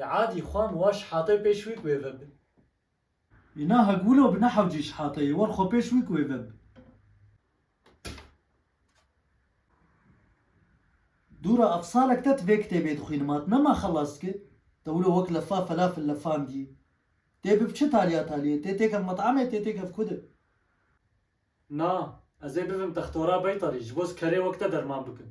Ê adî xwa min wa şihatê pêş wî ku wê veb. Îna hek wilo bi nehewcî şihatê yê war xwa pêş wî ku wê veb. Dûra ev salek te ti vê kitêbê dixwînî ma ti nema xelas dikir. Te wilo wek lefa felafil lefandiyî. Tê bib çi taliya taliyê, tê têkev met'emê, tê têkev kudê. Na, ez ê bibim textora beytarî ji bo ez kerê wek te derman bikim.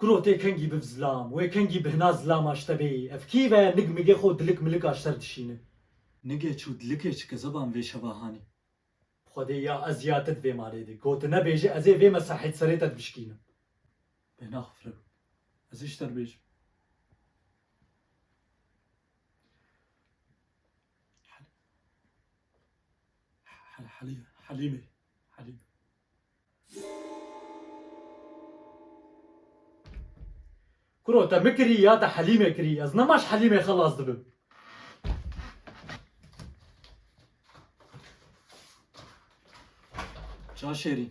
Kuro tê kengî biv zilam, wê kengî bi hina zilam aşte bê. Ev kî ve nig migê xwe û dilik milik aşter dişîne. Nigê çû dilikê çi ke zeban vê şeva hanî. Xwedê ya ez ya te di vê malê de ku tu nebêjî ez ê vê mesahê di serê te divişkînim. Bêhna xwe fireb. Ez ê ji te re bêjim. Helîmê, Helîmê. Kuro te min kirî ya te Helîmê kirî ez nema ji Helîmê xelas dibim. Çav şêrîn.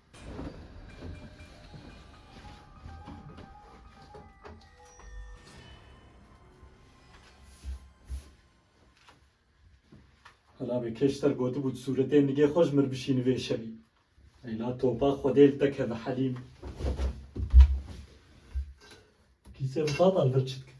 Hela be keşter gotibû sûretê nigê xwe ji mir bişîni vê şevî. Leyla topa xwedê li te keve helîm. Kîse bi tatan vir çi dikin?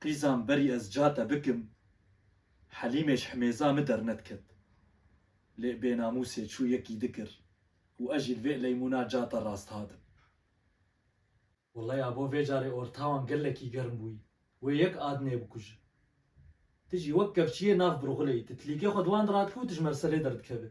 Qîzan berî ez ca te bikim, Helîmê ji himêza min dernediket. Lê bênamûsê çû yekî dikir û ez jî li vê eleymûna ca te rast hatim. Wallay abo vê carê ortawan gelekî germ bûyî. Wê yek adnê bikuje. Ti jî wek kevçiyê nav birxuleyî, ti tilîkê xwe di wan de radikî û dijmerselê derdikeve.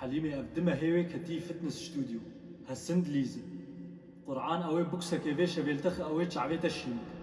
Helîmê ev di mehê wê ketî fitness studio, hesin dilîzin. Qur'an ew ê buksekê vê şevêlte xi ew ê çavê te şîn bike.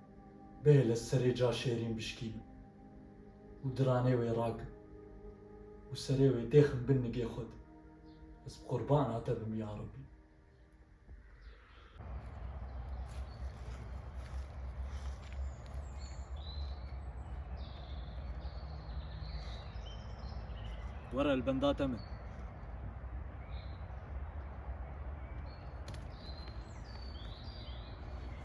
bê li serê ca şêrîn bişkînin û diranê wê rakin û serê wê têxin bin nigê xwe de, ez bi qurbana te bim ya Rebî. Were li benda te min.